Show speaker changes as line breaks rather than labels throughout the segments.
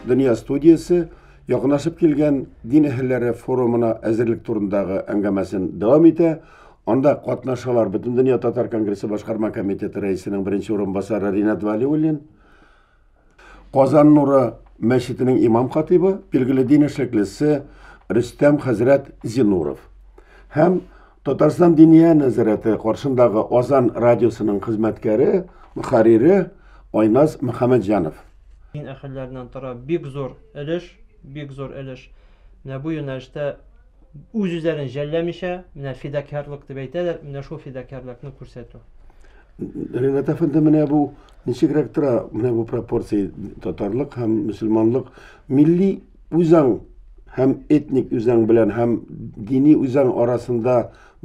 Дөнья студиясе якынашып килгән дин әһелләре форумына әзерлек турындагы әңгәмәсен дәвам итә. Анда катнашалар Бөтендөнья татар конгрессы башкарма комитеты рәисенең беренче урынбасары Ринат Вәлиуллин, Казан нуры мәчетенең имам-хатыйбы, билгеле дин эшлеклесе Рөстәм хәзрәт Зинуров һәм Татарстан Диния нәзарәте каршындагы Азан радиосының хезмәткәре, мөхәррире Айназ Мөхәммәтҗанов. Дин
әһелләреннән тора бик зур өлеш, бик зур өлеш менә бу юнәлештә. үз-үзләрен жәлләмичә, менә фидакярлык дип әйтәләр, менә шул фидакярлыкны күрсәтү.
Ренат әфәнде, менә бу ничегрәк тора, менә бу пропорция татарлык һәм мөселманлык, милли үзаң һәм этник үзаң белән һәм дини үзаң арасында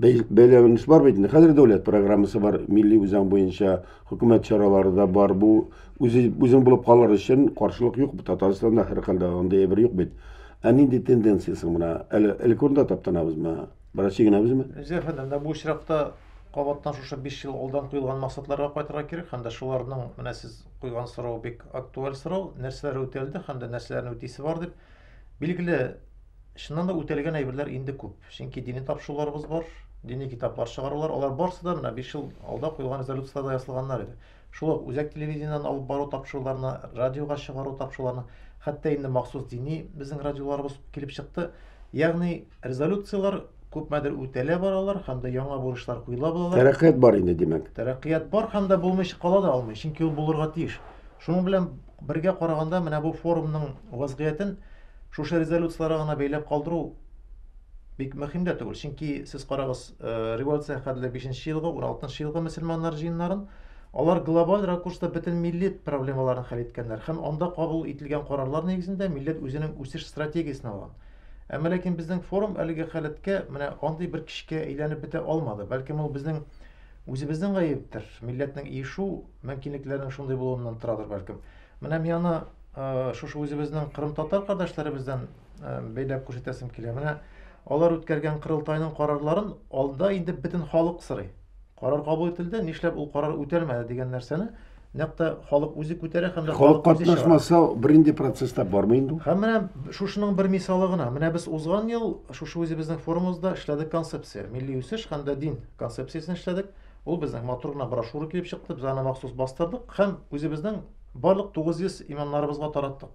бәйләвенеш бар бит инде. Хәзер дәүләт программасы бар, милли үзаң буенча хөкүмәт чаралары да бар. Бу үзе үзең булып калыр өчен каршылык юк. Татарстанда һәрхәлдә андый әйбер юк бит. Ә нинди тенденция соң менә? Әле элек урында таптанабызмы? Бераз чигенәбезме? Зәфәр әфәнде, менә бу очракта
кабаттан шушы 5 ел алдан куелган максатларга кайтырга кирәк һәм дә шуларның менә сез куйган сорау бик актуаль сорау, нәрсәләр үтәлде һәм дә нәрсәләрне үтисе бар дип. Билгеле, чыннан да үтәлгән әйберләр инде күп. Чөнки дини тапшыруларыбыз бар, дини китаплар чыгарулар, алар барысы да менә 5 ел алда куелган резолюцияләрдә ясалганнар иде. Шул ук үзәк телевидениедән алып бару тапшыруларына, радиога чыгару тапшыруларына, хәтта инде махсус дини безнең радиоларыбыз килеп чыкты. Ягъни резолюцияләр күпмедер үтәлә баралар һәм дә яңа бурычлар куела баралар. Тәрәккыят бар инде, димәк.
Тәрәккыят бар һәм дә
булмыйча кала да алмый, чөнки ул булырга тиеш. Шуның белән бергә караганда, менә бу форумның вазгыятен шушы резолюцияләргә генә бәйләп калдыру бик мөһим дә түгел, чөнки сез карагыз, Э, революция хәтле бишенче елгы ун алтынчы елгы мөселманнар җыеннарын алар глобаль ракурста бөтен милли проблемаларын хәл иткәннәр һәм анда кабул ителгән карарлар нигезендә милләт үзенең үсеш стратегиясен алган әмма ләкин безнең форум әлеге халәткә менә андый бер кичкә әйләнеп бетә алмады бәлкем ул безнең үзебезнең гаептер милләтнең иешү мөмкинлекләренең шундый булуыннан торадыр бәлкем менә мин аны э, шушы үзебезнең кырымтатар кардәшләребездән э, бәйләп күрсәтәсем килә. Менә алар үткәргән корылтайның карарларын алда инде бөтен халык сорый. Карар кабул ителде, нишләп ул карар үтәлмәде дигән нәрсәне нәкъ та халык үзе күтәрә һәм дә халык катнашмаса
беренче процесста бармый инде. Һәм менә шушының
бер мисалы гына. Менә без узган ел шушы үзебезнең форумыбызда эшләдек концепция, милли үсеш һәм дә дин концепциясен эшләдек. Ул безнең матур гына брошюра килеп чыкты, без аны махсус бастырдык һәм үзебезнең барлык 900 имамнарыбызга тараттык.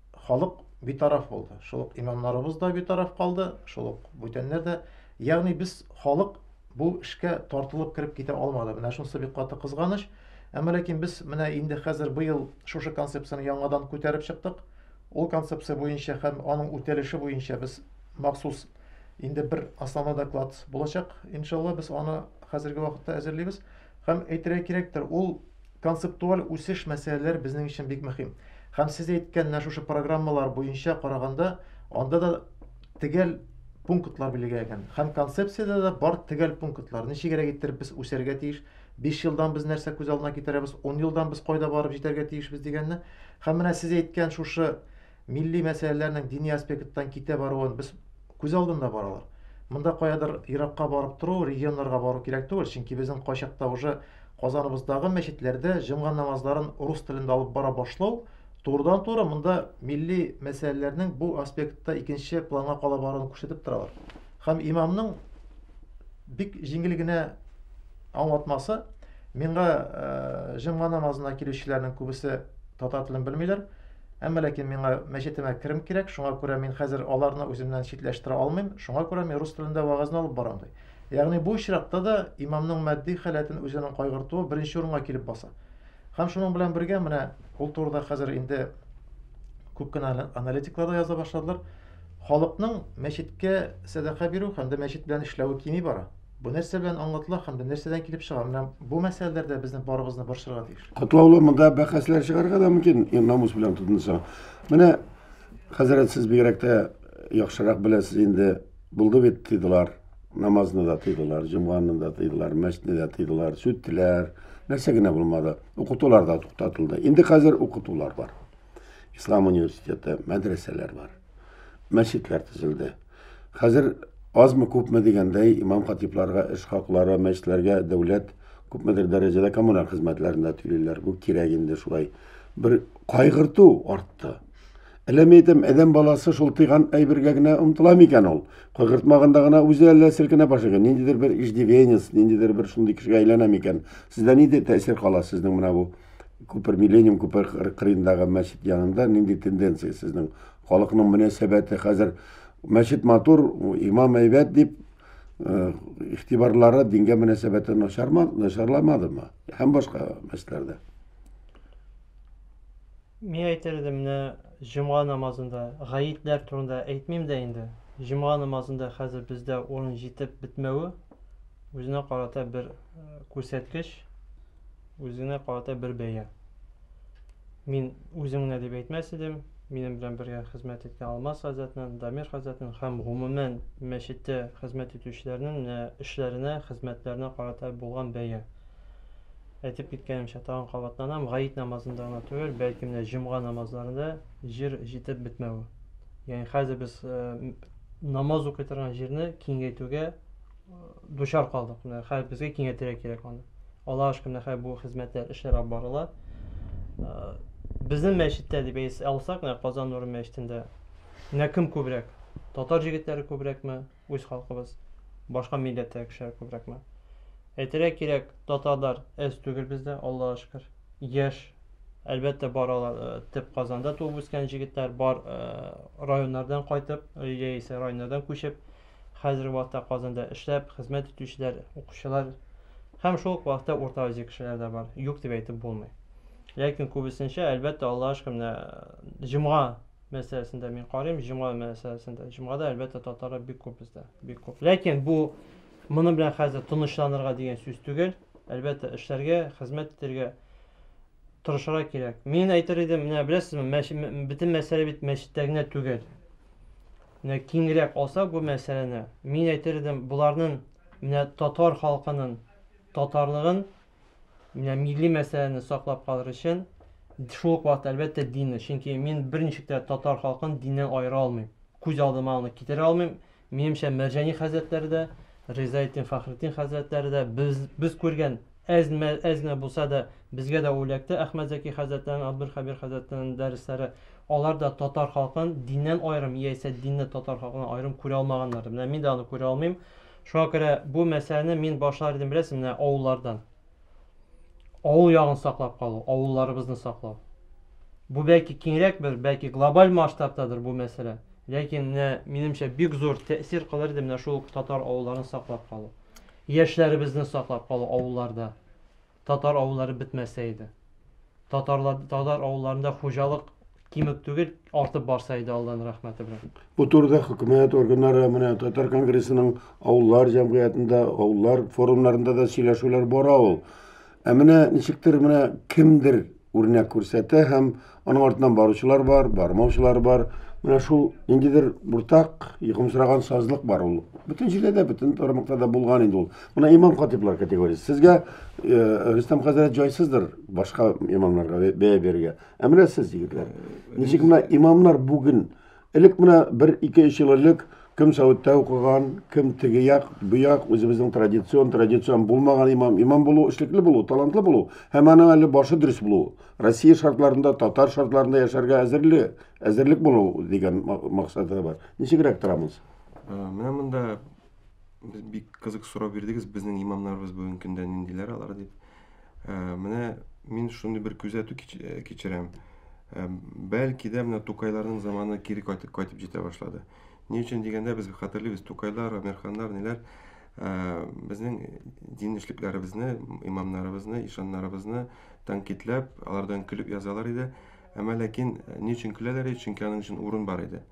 халык битараф булды. Шул ук имамнарыбыз да битараф калды, шул ук бүтәннәр дә. Ягъни без халык бу эшкә тартылып кереп китә алмады. Менә шунысы бик каты кызганыч. Әмма ләкин без менә инде хәзер быел шушы концепцияне яңадан күтәреп чыктык. Ул концепция буенча һәм аның үтәлеше буенча без махсус инде бер основной доклад булачак. Иншалла без аны хәзерге вакытта әзерлибез. Һәм әйтергә кирәктер, ул Концептуаль үсеш мәсьәләләре безнең өчен бик мөһим. Һәм сез әйткән менә шушы программалар буенча караганда, анда да төгәл пунктлар билгеләгән. Һәм концепциядә дә бар төгәл пунктлар. Ничегрәк иттереп без үсәргә тиеш, 5 елдан без нәрсә күз алдына китерәбез, 10 елдан без кайда барып җитәргә тиешбез дигәнне. Һәм менә сез әйткән шушы Милли мәсьәләләрнең дини аспекттан китә баруын без күз алдында бар алар. Монда каядыр еракка барып тору, регионнарга бару кирәк түгел, чөнки безнең кайчакта уже Казаныбыздагы мәчетләрдә җомга намазларын рус телендә алып бара башлау турыдан-туры монда милли мәсьәләләрнең бу аспектта икенче планга кала баруын күрсәтеп торалар. Һәм имамның бик җиңел генә аңлатмасы миңа э, җомга намазына килүчеләрнең күбесе татар телен белмиләр, Әмма ләкин миңа мәчетемә керем кирәк, шуңа күрә мин хәзер аларны үземнән читләштерә алмыйм, шуңа күрә мин рус телендә вәгазьне алып барам, ди. Ягъни бу очракта да имамның матди халәтен үзенең кайгыртуы беренче урынга килеп баса. Һәм шуның белән бергә менә ул турыда хәзер инде күп кенә аналитиклар да яза башладылар. Халыкның мәчеткә сәдака бирү һәм дә мәчет белән эшләве кими бара. Бу нәрсә белән аңлатыла һәм бу нәрсәдән килеп чыга? Менә бу мәсьәләләр дә безне барыбызны борчырга тиеш. Катлаулы монда бәхәсләр
чыгарга да мөмкин, ин- намус белән тотынса. Менә хәзрәт сез бигрәк тә яхшырак беләсез инде. Булды бит тыйдылар. Намазны да тыйдылар, җомганы да тыйдылар, мәчетне дә тыйдылар, сүттеләр. Нәрсә генә булмады. Укытулар да туктатылды. Инде хәзер укытулар бар. Ислам университеты, мәдрәсәләр бар. мәчетләр төзелде. Хәзер азмы-күпме дигәндәй имам-хатибларга эш хаклары, мәчетләргә дәүләт күпмедер дәрәҗәдә коммуналь хезмәтләрендә түлиләр. Бу кирәк инде шулай. Бер кайгырту артты. Әллә мин әйтәм, әдәм баласы шул тыйган әйбергә генә омтыла микән ул? Кайгыртмаганда гына үзе әллә селкенә башлый. Ниндидер бер иждивенец, ниндидер бер шундый кешегә әйләнә микән? Сездә нинди тәэсир кала сезнең менә бу Күпер Миллениум күпер кырыендагы мәчет янында нинди тенденция сезнең? Халыкның мөнәсәбәте хәзер мәчет матур, имам әйбәт дип э, игътибарлары дингә мөнәсәбәте начарламадымы? Һәм башка мәчетләрдә.
Мин әйтер идем, менә җомга намазында, гаетләр турында әйтмим дә инде. Җомга намазында хәзер бездә урын җитеп бетмәве үзенә карата бер э, күрсәткеч. үзенә карата бер бәя. Мин үзем генә дип әйтмәс идем, минем белән бергә хезмәт иткән Алмаз хәзрәтнең, Дамир хәзрәтнең һәм гомумән мәчеттә хезмәт итүчеләрнең менә эшләренә, хезмәтләренә карата булган бәя. Әйтеп киткәнемчә, тагын кабатланам, гаит намазында гына түгел, бәлки менә җомга намазларында җир җитеп бетмәве. Ягъни хәзер без э, намаз укый торган җирне киңәйтүгә дучар калдык. Менә хәзер безгә киңәйтергә кирәк аны. Алла ашкы менә хәзер бу хезмәтләр, эшләр алып барыла. Безнең мәчеттә дип әйтсә алсак, менә Казан нуры мәчетендә менә кем күбрәк? Татар җегетләре күбрәкме? Үз халкыбыз. Башка милләттә кешеләр күбрәкме? Әйтергә кирәк, татарлар әз түгел бездә, Аллага шөкер. Яшь, әлбәттә, бар алар э, төп Казанда туып үскән җегетләр, бар э, районнардан кайтып, яисә районнардан күчеп, Хәзерге вакытта Казанда эшләп, хезмәт итүчеләр, укучылар һәм шул ук вакытта Урта Азия кешеләре дә бар. Юк дип әйтеп булмый. Ләкин күбесенчә, әлбәттә, Аллага шөкер, менә җомга мәсьәләсендә мин карыйм, җомга мәсьәләсендә. Җомгада, әлбәттә, татарлар бик күп бездә, бик күп. Ләкин бу моның белән хәзер тынычланырга дигән сүз түгел. Әлбәттә, эшләргә, хезмәт итәргә тырышырга кирәк. Мин әйтер идем, менә беләсезме, бөтен мәсьәлә бит мәчеттә генә түгел. Менә киңрәк алсак бу мәсьәләне, мин әйтер идем, боларның менә татар халкының татарлыгын, менә милли мәсьәләне саклап калыр өчен шул ук вакытта әлбәттә динне, чөнки мин берничек тә татар халкын диннән аера алмыйм. Күз алдыма аны китерә алмыйм. Минемчә, Мәрҗани хәзрәтләре дә, Ризаэддин Фәхретдин хәзрәтләре дә, без, без күргән әз, әз генә булса да, безгә дә үләкте Әхмәт Зәки хәзрәтләренең, Абдулхәбир хәзрәтләренең дәресләре. Алар да татар халкын диннән аерым яисә динне татар халкыннан аерым күрә алмаганнардыр. Менә мин дә аны күрә алмыйм. Шуңа күрә бу мәсьәләне мин башлар идем, беләсең, менә авыллардан. Авыл ягын саклап калу, авылларыбызны саклау. Бу бәлки киңрәк бер, бәлки глобаль масштабтадыр бу мәсьәлә. Ләкин менә минемчә бик зур тәэсир кылыр иде менә шул татар авылларын саклап калу. Яшьләребезне саклап калу авылларда. Татар авыллары бетмәсә иде. Татарлар, татар авылларында хуҗалык кимеп түгел, артып барса иде Алланың рәхмәте белән. Бу турыда хөкүмәт
органнары менә Татар конгрессының авыллар җәмгыятендә, авыллар форумнарында да сөйләшүләр бара ул. Ә менә ничектер менә кемдер үрнәк күрсәтә һәм Аның артыннан баручылар бар, бармаучылар бар. Менә шул ниндидер уртак йокымсыраган сазлык бар ул. Бөтен җирдә дә, бөтен тармакта да булган инде ул. Менә имам хатиблар категориясе. Сезгә э, Рөстәм хәзрәт җайсыздыр башка имамнарга бәя бирергә. Ә менә сез, егетләр, ничек менә имамнар бүген Элек менә бер ике өч ел элек кем Сәүдтә укыган, кем теге як, бу як, үзебезнең традицион, традицион булмаган имам, имам булу, эшлекле булу, талантлы булу һәм аның әле башы дөрес булу, Россия шартларында, татар шартларында яшәргә әзерле, әзерлек булу дигән максаты бар. Ничегрәк торабыз? Ә, Менә монда
Без бик кызык сорау бирдегез, безнең имамнарыбыз бүгенге көндә ниндиләр алар дип. Э, менә мин шундый бер күзәтү э, кичерәм. Э, бәлки дә менә Тукайларның заманы кире кайтып кайтып җитә башлады. Ни өчен дигәндә без хәтерлибез, Тукайлар, Амерханнар, ниләр безнең дин эшлекләребезне, имамнарыбызны, ишаннарыбызны тәнкыйтьләп, алардан көлеп язалар иде. Әмма ләкин ни өчен көләләр иде? Чөнки аның өчен урын бар иде.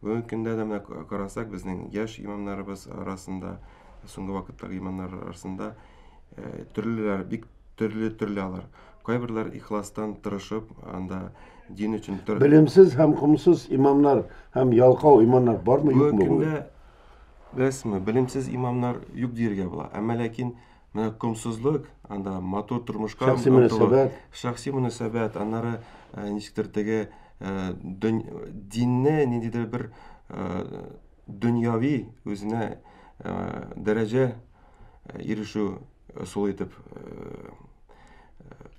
Бүгенге көндә дә менә карасак, безнең яшь имамнарыбыз арасында, соңгы вакыттагы имамнар арасында төрлеләр, бик төрле төрле алар. Кайберләр ихластан тырышып, анда дин өчен тыр... Белемсез һәм
комсыз имамнар һәм ялкау имамнар бармы юкмы? Бүгенге көндә
беләсезме, белемсез имамнар юк диергә була.
Әмма
ләкин Менә комсызлык, анда матур тормышка шәхси мөнәсәбәт,
шәхси мөнәсәбәт,
аннары э, ничектер теге э, динне ниндидер бер э, дөньяви үзенә дәрәҗә ирешү ысулы итеп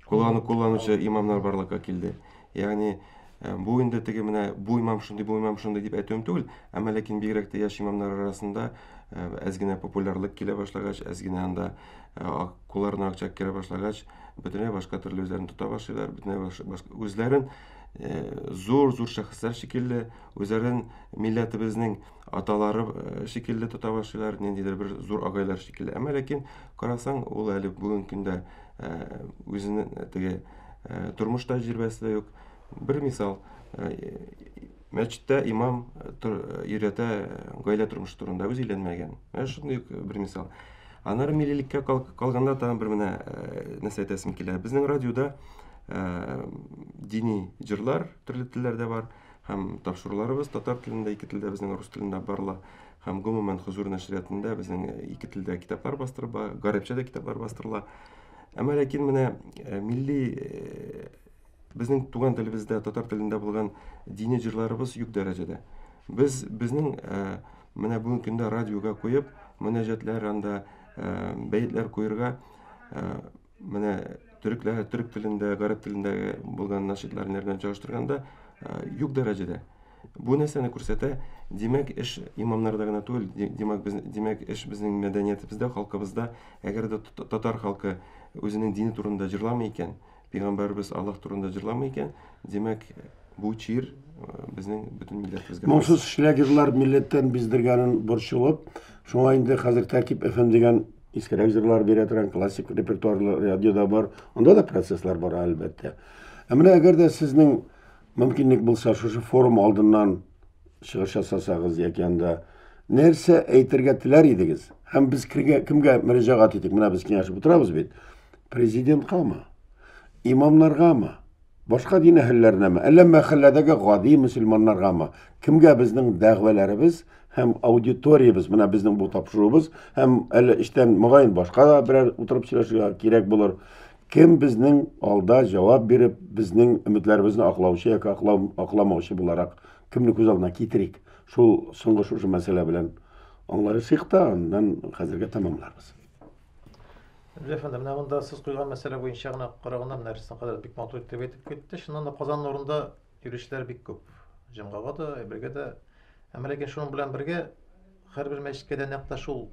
куллану кулланучы имамнар барлыкка килде. Ягъни, э, бу инде теге менә бу имам шундый, бу имам шундый дип әйтүем түгел, әмма ләкин бигрәк тә яшь имамнар арасында э, әз генә популярлык килә башлагач, әз генә анда э, кулларына акча керә башлагач, бөтенләй башка төрле үзләрен тота башлыйлар, бөтенләй башка үзләрен зур зур шәхесләр шикелле үзләрен милләтебезнең аталары шикелле тота башлыйлар ниндидер бер зур агайлар шикелле әмма ләкин карасаң ул әле бүгенге көндә Үзенең теге тормыш тәҗрибәсе дә юк. Бер мисал, мәчеттә имам өйрәтә гаилә тормышы турында, үзе өйләнмәгән. Менә шундый ук бер мисал. Аннары миллиликкә калганда тагын бер менә нәрсә әйтәсем килә. Безнең радиода дини җырлар төрле телләрдә бар һәм тапшыруларыбыз татар телендә, ике телдә, безнең рус телендә барыла. Һәм гомумән Хозур нәшриятында безнең э, ике телдә китаплар бастырыла, гарәпчә дә китаплар бастырыла. Әмма ләкин менә э, милли э, безнең туган телебездә, татар телендә булган дини җырларыбыз юк дәрәҗәдә. Без безнең менә бүгенге көндә радиога куеп, мөнәҗәтләр анда бәетләр куерга Менә төрекләр, төрек телендә, гарәп телендә булган нашидлар белән чагыштырганда юк дәрәҗәдә. Бу нәрсәне күрсәтә, димәк, эш имамнарда гына түгел, димәк, без, димәк, эш безнең мәдәниятебездә, халкыбызда, әгәр дә татар халкы үзенең дине турында җырламый икән, пәйгамбәрбез Аллаһ турында җырламый икән, Димәк, бу чир безнең бөтен милләтебезгә. Моңсыз шлягерлар
милләттән биздергәнен борчылып, шуңа инде хәзер Тәкип FM дигән искерәк җырлар бирә торган классик репертуарлы радио да бар. Анда да процесслар бар, әлбәттә. Ә менә әгәр дә сезнең мөмкинлек булса, шушы форум алдыннан чыгыш ясасагыз яки анда нәрсә әйтергә теләр идегез? Һәм без кемгә, кемгә мөрәҗәгать итик? Менә без киңәшеп утырабыз бит. Президенткамы? Имамнаргамы? Башка дин әһелләренәме, әллә мәхәлләдәге гади мөселманнаргамы? Кемгә безнең дәгъвәләребез һәм аудиториябез, менә безнең бу тапшыруыбыз һәм әле эштән мөгаен башка да берәр утырып сөйләшергә кирәк булыр. Кем безнең алда җавап биреп, безнең өметләребезне аклаучы яки аклау, акламаучы буларак кемне күз алдына китерик? Шул соңгы шушы мәсьәлә белән аңлашыйк та, аннан хәзергә тәмамларбыз.
Гүзәл әфәнде, менә монда сез куйган мәсьәлә буенча гына караганда менә Рөстәм хәзрәт бик матур итеп әйтеп китте. Чыннан да Казан нурында йөрүчеләр бик күп. Җомгага да, әйбергә дә. Әмма ләкин шуның белән бергә һәрбер мәчеткә дә нәкъ та шул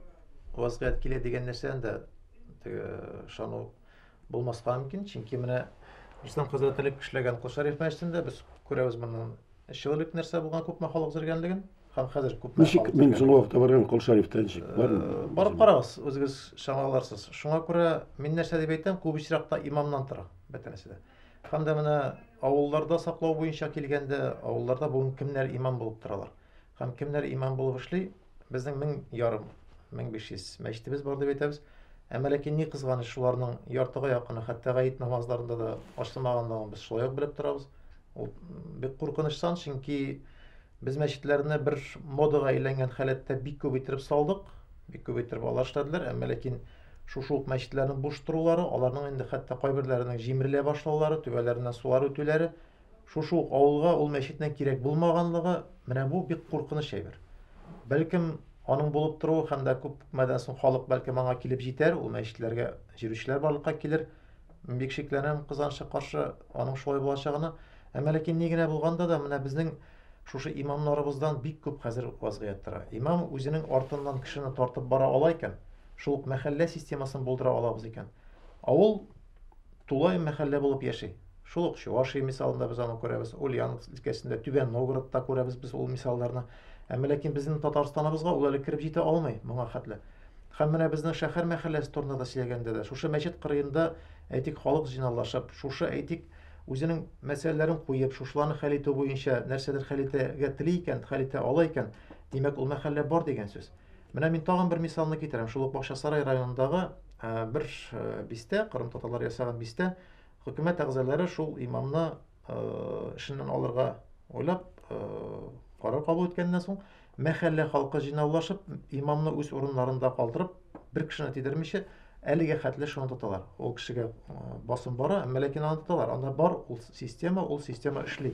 вазгыять килә дигән нәрсәдән дә теге ышану булмаска мөмкин. Чөнки менә Рөстәм хәзрәт элек эшләгән Кол Шәриф мәчетендә без күрәбез моннан Э, человек нәрсә булган күпме халык зергәнлеген һәм хәзер күпме ничек мин соңгы вакытта
барган кол шәрифтә ничек э, бар барып карагыз
үзегез чамаларсыз шуңа күрә мин нәрсә дип әйтәм күп очракта имамнан тора бөтенесе дә һәм дә менә авылларда саклау буенча килгәндә авылларда бүген кемнәр имам булып торалар Һәм кемнәр имам булып эшли? Безнең мең ярым, мең биш йөз мәчетебез бар дип әйтәбез. Әмма ләкин ни кызганыч, шуларның яртыга якыны хәтта гаит намазларында да ачылмаганлыгын без шулай ук белеп торабыз. Ул бик куркыныч сан, чөнки без мәчетләрне бер модага әйләнгән халәттә бик күп иттереп салдык, бик күп иттереп алар эшләделәр, әмма ләкин шушы ук мәчетләрнең буш торулары, аларның инде хәтта кайберләренең җимерелә башлаулары, түбәләреннән сулар үтүләре, Шушы ук авылга ул мәчетнең кирәк булмаганлыгы, менә бу бик куркыныч әйбер. Бәлкем, аның булып торуы һәм дә күп мәдән соң халык бәлкем аңа килеп җитәр, ул мәчетләргә җирүчеләр барлыкка килер. Бик шикләнәм кызганычка каршы аның шулай булачагына. Әмма ләкин ни генә булганда да, менә безнең шушы имамнарыбыздан бик күп хәзер вазгыять тора. Имам үзенең артыннан кешене тартып бара ала икән, шул ук мәхәллә системасын булдыра алабыз икән. Авыл тулай мәхәллә булып яши. Шул ук Чувашия мисалында без аны күрәбез, Ульяновск өлкәсендә, Түбән Новгородта күрәбез без ул мисалларны. Әмма ләкин безнең Татарстаныбызга ул әле кереп җитә алмый моңа хәтле. Һәм менә безнең шәһәр мәхәлләсе турында да сөйләгәндә дә, шушы мәчет кырыенда, әйтик, халык җыйналлашып, шушы, әйтик, үзенең мәсьәләләрен куеп, шушыларны хәл итү буенча нәрсәдер хәл итәргә тели икән, хәл итә ала икән, димәк, ул мәхәллә бар дигән сүз. Менә мин тагын бер мисалны китерәм. Шул ук Бакчасарай районындагы э, бер э, бистә, кырым татарлары ясаган бистә, хөкүмәт әгъзалары шул имамны э, эшеннән алырга уйлап карар кабул иткәннән соң, мәхәллә халкы җыйнаулашып, имамны үз урыннарында калдырып, бер кешене тидермичә, әлегә хәтле шуны тоталар. Ул кешегә басым бара, әмма ләкин аны тоталар. Анда бар ул система, ул система эшли.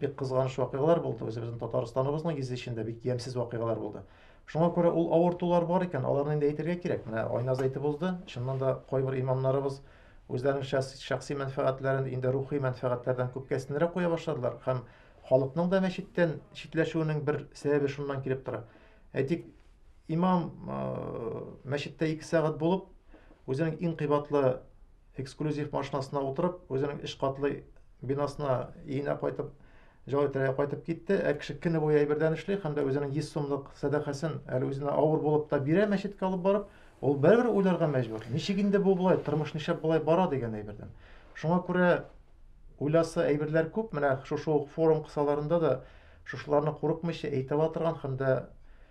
бик кызганыч вакыйгалар булды, үзебезнең Татарстаныбызның йөзе эчендә бик ямьсез вакыйгалар булды. Шуңа күрә ул авыртулар бар икән, аларны инде әйтергә кирәк. Менә Айназ әйтеп узды, чыннан да кайбер имамнарыбыз үзләренең шәхси мәнфәгатьләрен инде рухи мәнфәгатьләрдән күпкә өстенрәк куя башладылар һәм халыкның да мәчеттән читләшүенең бер сәбәбе шуннан килеп тора. Әйтик, имам мәчеттә ике сәгать булып, үзенең иң кыйбатлы эксклюзив машинасына утырып, үзенең өч катлы бинасына өенә кайтып, җылы тирәгә кайтып китте. Ә кеше көне буе әйбердән эшли һәм дә үзенең 100 сумлык сәдакасын әле үзенә авыр булып та бирә мәчеткә алып барып, ул бәрбер уйларга мәҗбүр. Ничек инде бу болай, тормыш нишләп болай бара дигән әйбердән. Шуңа күрә уйласы әйберләр күп, менә шушы ук форум кысаларында да шушыларны курыкмыйча әйтә ала торган һәм дә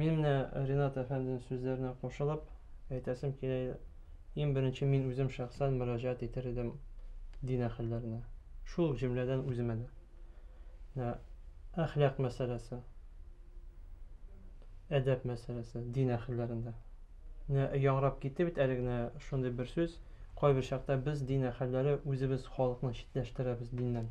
Мин менә Ренат әфәндинең сүзләренә кушылып әйтәсем килә, иң беренче мин үзем шәхсән мөрәҗәгать итер идем дин әһелләренә. Шул җөмләдән үземә дә. Менә әхлак мәсьәләсе, әдәп мәсьәләсе дин әһелләрендә. Менә яңрап китте бит әле генә шундый бер сүз, кайбер чакта без дин әһелләре үзебез халыкны читләштерәбез диннән.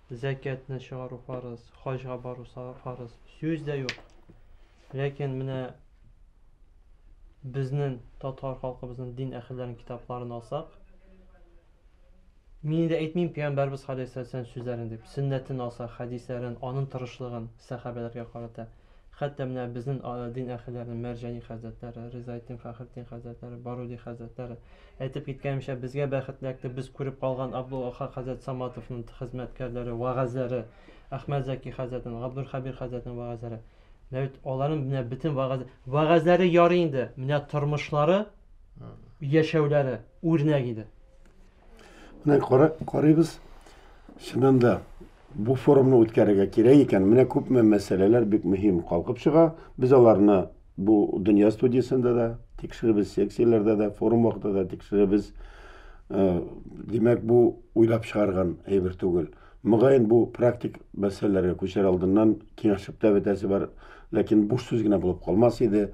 Зәкятне чыгару фарыз, хаҗга бару фарыз. Сүз дә юк. Ләкин менә безнең татар халкыбызның дин әһелләренең китапларын алсак, Мин инде әйтмим пәйгамбәрбез галәйһиссәләм сүзләрен дип, сөннәтен алса, хәдисләрен, аның тырышлыгын сәхабәләргә карата. Хәтта менә безнен дин әһелләренең Мәрҗани хәзрәтләре, Ризаэддин Фәхретдин хәзрәтләре, Баруди хәзрәтләре әйтеп киткәнемчә, безгә бәхетләкте без күреп калган Абдул-Ахак хәзрәт Саматовнын хезмәткәрләре, вәгазьләре, Әхмәт Зәки хәзрәтнен, Габдулхәбир хәзрәтнен вәгазьләре. Менә бит аларнын менә бөтен вәгазь, вәгазьләре ярый инде, менә тормышлары, яшәүләре үрнәк иде.
Менә кара, карыйбыз. Чыннан да бу форумны үткәрергә кирәк икән. Менә күпме мәсьәләләр бик мөһим калкып чыга. Без аларны бу дөнья студиясендә дә тикшеребез, секцияләрдә дә, форум вакытында да тикшеребез. Э, Димәк, бу уйлап чыгарган әйбер түгел. Мөгаен, бу практик мәсьәләләргә күчәр алдыннан киңәшеп тә бетәсе бар, ләкин буш сүз генә булып калмас иде,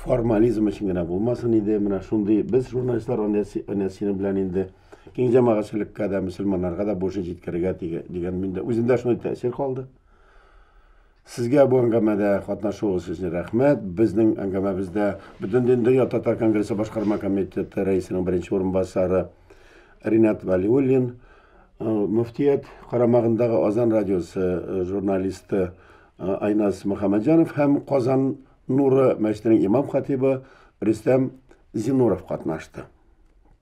формализм өчен генә булмасын иде. Менә шундый без, журналистлар, аны әнә синең белән инде киң җәмәгатьчелеккә дә, мөселманнарга да бурычын җиткерергә дигән миндә үземдә шундый тәэсир калды. Сезгә бу әңгәмәдә катнашуыгыз өчен рәхмәт. Безнең әңгәмәбездә Бөтендин дөнья татар конгрессы башкарма комитеты рәисенең беренче урынбасары Ринат Вәлиуллин, э, мөфтият карамагындагы Азан радиосы э, журналисты э, Айназ Мөхәммәтҗанов һәм Казан Нуры мәчетенең имам-хатибы Рөстәм Зинуров катнашты.